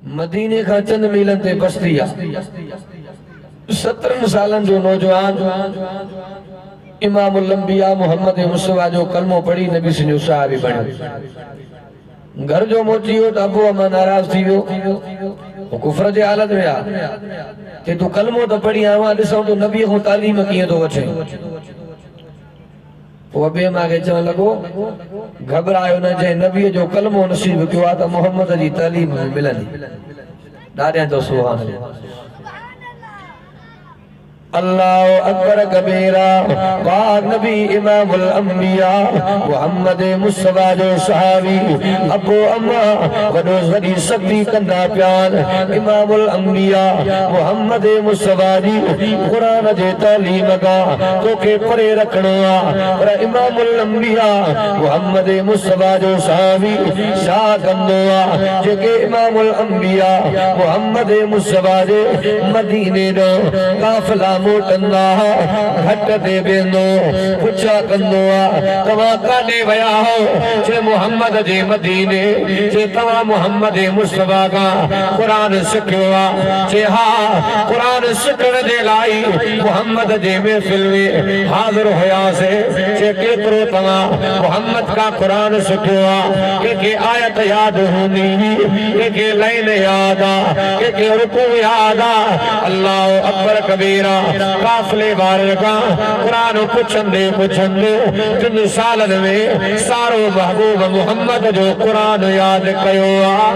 مديني کان چند ميلن تي بستي آ سترن سالن جو نوجوان امام الانبیاء محمد مصطفیٰ جو کلمو پڙھي نبی صلی اللہ علیہ وسلم جو صحابي بڻيو گھر جو موٽي ويو ته ابو امان ناراض ٿي ويو هو ڪفر جي حالت ۾ آ چي تون کلمو ته پڙھي آئون ڏسان ٿو نبي کان تعليم ڪيئن ٿو وٺين هو ٻئي مان کي چوڻ لڳو، گهٻرايو نه، جنهن نبيء جو ڪلمو نصيب ڪيو آهي ته محمد جي تعليم به ملندي. ڏاڏيان چيو، سبحان الله الله اڪبر ڪبيرا، پاڪ نبي امام الانبياء محمد مصطفيٰ جو صحابي ابو اما وڏو وڏي سختي ڪندا پيا آهن، امام الانبياء محمد مصطفيٰ جي قرآن جي تعليم کان توکي پري رکڻو آ پر امام الانبياء محمد مصطفي جو صحابي ڇا ڪندو آ جيڪي امام الانبياء محمد مصطفي جي مديني ڏانهن قافلا موٽندا ها گهٽ تي بيهندو پڇا ڪندو آ توهان ڪاڏي ويا هئو چي محمد جي مديني چي توهان محمد مصطفي کان قرآن سکيو آ چي ها قرآن سکڻ جي لاء محمد جي محفل ۾ حاضر هياسين، چي ڪيترو توهان محمد کان قرآن سکيو آ، ڪنهن کي آيت ياد هوندي هئي، ڪنهن کي لائين ياد آ، ڪنهن کي رڪوع ياد آ، الله اڪبر ڪبيرا، قافلي وارن کان قرآن پڇندي پڇندي ٽن سالن ۾ سارو محبوب محمد جو قرآن ياد ڪيو آ.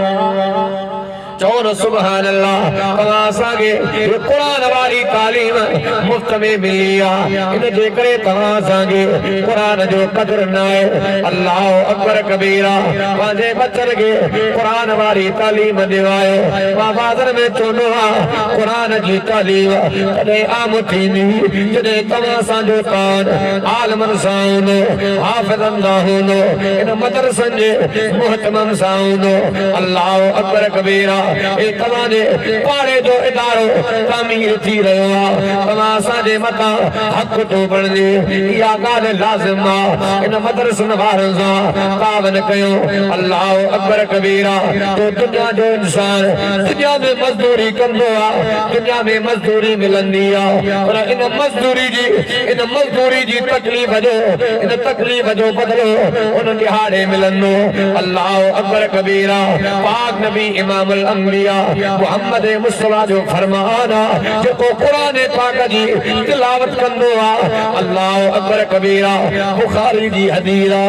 چئو نه سبحان الله توهان اسان کي هي قرآن واري تعليم مفت ۾ ملي آ ان جي ڪري توهان اسان کي قرآن جو قدر ناهي الله اڪبر ڪبيرا پنهنجي ٻچن کي قرآن واري تعليم ڏيوايو مان وعظن ۾ چوندو آ قرآن جي تعليم تڏهن عام ٿيندي جڏهن توهان سان جو تعاون عالمن سان هوندو حافظن سان هوندو ان مدرسن جي محتمم سان هوندو الله اڪبر ڪبيرا هي توهان جي پاڙي جو ادارو تعمير ٿي رهيو آ توهان اسان جي مٿان حق ٿو بڻجي اها ڳالهه لازم آ ان مدرسن وارن سان تعاون ڪيو الله اڪبر ڪبيرا تو دنيا جو انسان دنيا ۾ مزدوري ڪندو آ دنيا ۾ مزدوري ملندي آ پر ان مزدوري جي ان مزدوري جي تڪليف جو ان تڪليف جو بدلو ان ڏهاڙي ملندو. الله اڪبر ڪبيرا پاڪ نبي امام الانبياء محمد مصطفيٰ جو فرمان آ جيڪو قرآن پاڪ جي تلاوت ڪندو آ الله اڪبر ڪبيرا بخاري جي حديث آ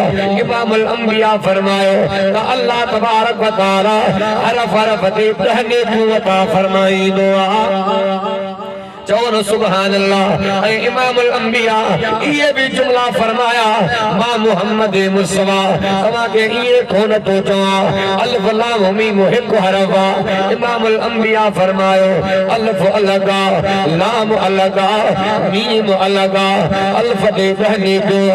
امام الانبياء فرمايو ته الله تبارڪ و تعالي حرف حرف تي ڏهه نيڪيون عطا فرمائيندو آ. چئو نه سبحان الله ۽ امام الانبياء اهي به جملا فرمايا مان محمد مصطفيٰ توهان کي ائين ڪونه ٿو چوان الف لام ميم هڪ حرف آ امام الانبياء فرمايو الف الڳ آ لام الڳ آ ميم الڳ آ الف تي ڏهه نيڪيون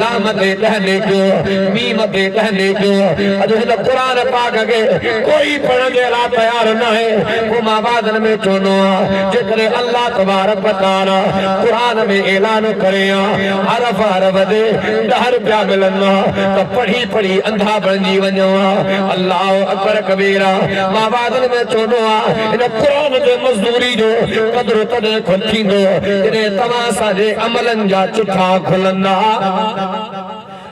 لام تي ڏهه نيڪيون ميم تي ڏهه نيڪيون اڄ هن قرآن پاڪ کي ڪوئي پڙهڻ جي لاء تيار ناهي پوء مان وعدن ۾ چوندو آهيان جيڪڏهن الله تبارڪ و تعالي قرآن ۾ اعلان ڪري ها حرف حرف تي ڏهه روپيا ملن ها ته پڙهي پڙهي انڌا بڻجي وڃون ها الله اڪبر ڪبيرا مان وعظن ۾ چوندو آهيان ان قرآن جي مزدوري جو قدر تڏهن کن ٿيندو جڏهن توهان اسان جي عملن جا چٺا کلندا.